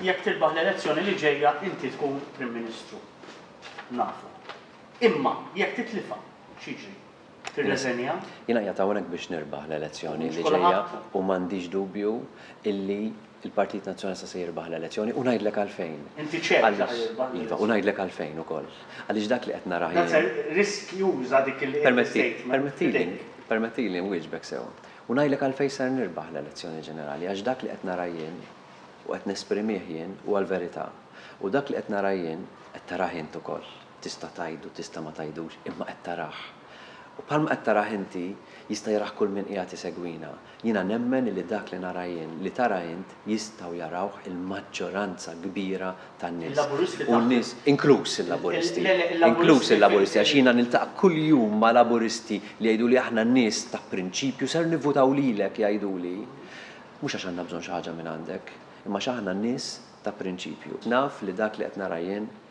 Jekk tirbaħ l-elezzjoni li ġejja inti tkun Prim Ministru. Nafu. Imma jekk titlifha, x'jiġri? Tirreżenja? Jiena qiegħed hawnhekk biex nirbaħ l-elezzjoni li ġejja u m'għandix dubju illi Il-Partit Nazzjonalista se jirbaħ l-elezzjoni u ngħidlek għalfejn. Inti ċert li se jirbaħ l-elezzjoni? Iva, u ngħidlek għalfejn ukoll. Għaliex dak li qed nara jien. Nazzar, riskjuża dik il-statement. Permettili, permettili nwieġbek sew. U ngħidlek għalfejn ser nirbaħ l-elezzjoni ġenerali, għax dak li qed nara jien u qed nesprimih jien huwa l-verità. U dak li qed nara jien, qed tarah int ukoll. Tista' tgħidu, tista' ma tgħidux, imma qed tarah. U bħalma qed tarah inti, jista' jarah kull min qiegħed isegwina. Jiena nemmen illi dak li nara jien, li tara int, jistgħu jarawh il-maġġoranza kbira tan-nies. U n-nies, inkluż il-Laburisti, inkluż il-Laburisti, għax jiena niltaqa' kuljum ma' Laburisti li jgħiduli aħna nies ta' prinċipju, ser nivvutaw lilek, jgħiduli. Mhux għax għandna bżonn xi ħaġa mingħandek, imma għax aħna nies ta' prinċipju. Naf li dak li qed nara jien,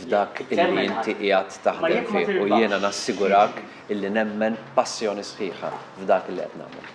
f'dak illi inti qiegħed taħdem fih u jiena nassigurak illi nemmen b'passjoni sħiħa f'dak illi qed nagħmel.